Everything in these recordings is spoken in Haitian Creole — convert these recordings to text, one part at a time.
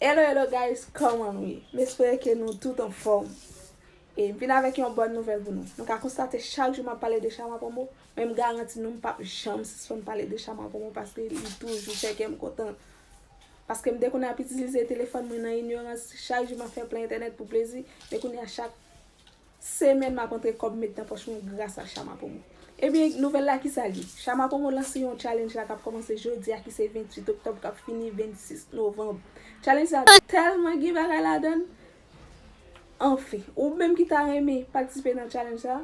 Hello hello guys kòman nou ye m espere ke nou tout anfòm e m vin avèk yon bòn nouvèl pou nou nou ka konstate chak jou m ap pale de chama promo men m garanti nou m p ap janm sispann pale de chama promo paske li toujou fè kè m kontan paske m te konnen ap itilize telefòn mwen nan inyorans chak jou m ap fè plen entènèt pou plezi men kounye a chak Semèn map antre kòb met nan pòch mwen gras a Shama Promo. Ebyen nouvèl la kisa l ye? Shama Promo lanse yon challenge la kap kòmanse jodi a ki se 28 oktòb kap fini 26 novanb. Challenge sa tèlman gen bagay ladann! Anfen, ou menm ki ta renmen patisipe nan challenge sa,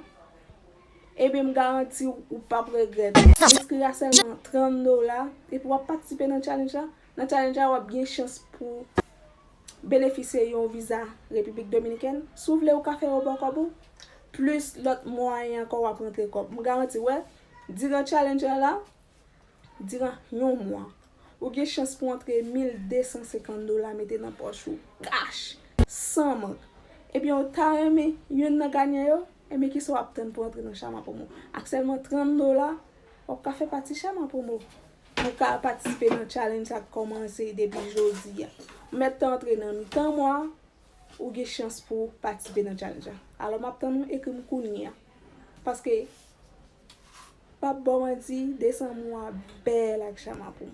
ebyen m garanti w ou pap regrèt. Enskri a sèlman 30 dola epi wap patisipe nan challenge la. Nan challenge la wap gen chans pou benefisye yon viza Repiblik Dominikèn, si w vle ou ka fè yo baw kòb ou, plis lòt mwayen ankò wap rantre kòb. M garanti w, diran challenge la la, diran yon mwa, ou gen chans pou antre 1250 dola mete nan pòch ou kach, san mank. Ebyen ou ta renmen youn nan ganyan yo? Ebyen kisa wap tann pou antre nan Chama Promo? Ak sèlman 30 dola, wap ka fè pati Chama Promo. Ou ka patisipe nan challenge sa k kòmanse depi jodi a. Mèt tan an antre nan mitan mwa, ou gen chans pou patisipe nan challenge la. Alò m ap tann ou ekri m kounye a. Paske, m p ap ba w manti, desanm ou a bèl ak chama pou m.